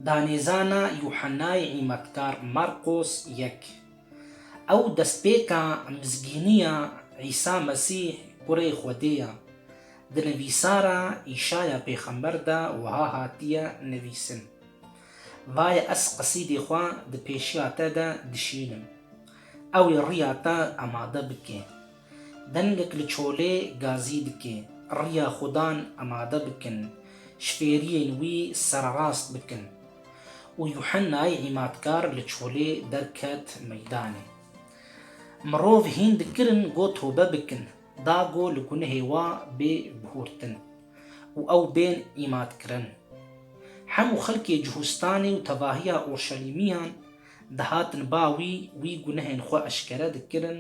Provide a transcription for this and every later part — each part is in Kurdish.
Danêzana Yuhannayê Îmetkar Marqos yek. Ew destpêka mizgîniya Îsa Mesîh Kurê Xwedê ye. Di nivîsara Îşaya pêxember de wiha hatiye nivîsin, Vaye ez qesîdê xwe di pêşiya te de dişînim, ewê riya te amade bike. Dengek li çolê gazî dike. Riya xwe dan amade bikin, ji fêriyên wî sererast bikin. Û Yuhennayê îmatkar li çolê derket meydanê. Mirov hîn dikirin go tobe bikin, da go li gunehê wa bê bihurtin û ew bên îmatkirin. Hemû xelkê Cuhustanê û tevahiya Urşelîmiyan, Dihatin ba wî, wî gunehên xwe eşkere dikirin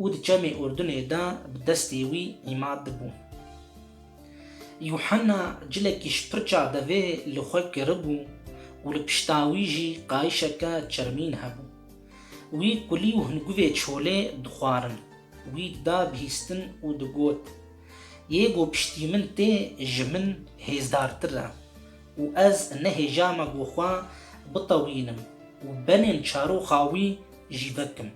û di çemê Urdunê de bi destê wî îmad dibûn. Yuhanna cilekî ji pirça devê li xwe kiribû û li pişta wî jî qayişeke çermîn hebû. Wî kulî û hingûvê çolê dixwarin. Wî da bihîstin û digot, Yê ku piştî min tê, ji min hêzdartir e. Û ez nehêjame ku xwe bitewînim û benên çaroxa wî jî vekim.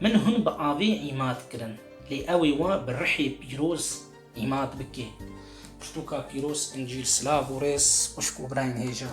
Min hûn bi avê îmad kirin, lê ewê we bi rihê pîroz îmad bike. Pirtûka Pîroz Încîl Silav û rêz xwişk û birayên hêja.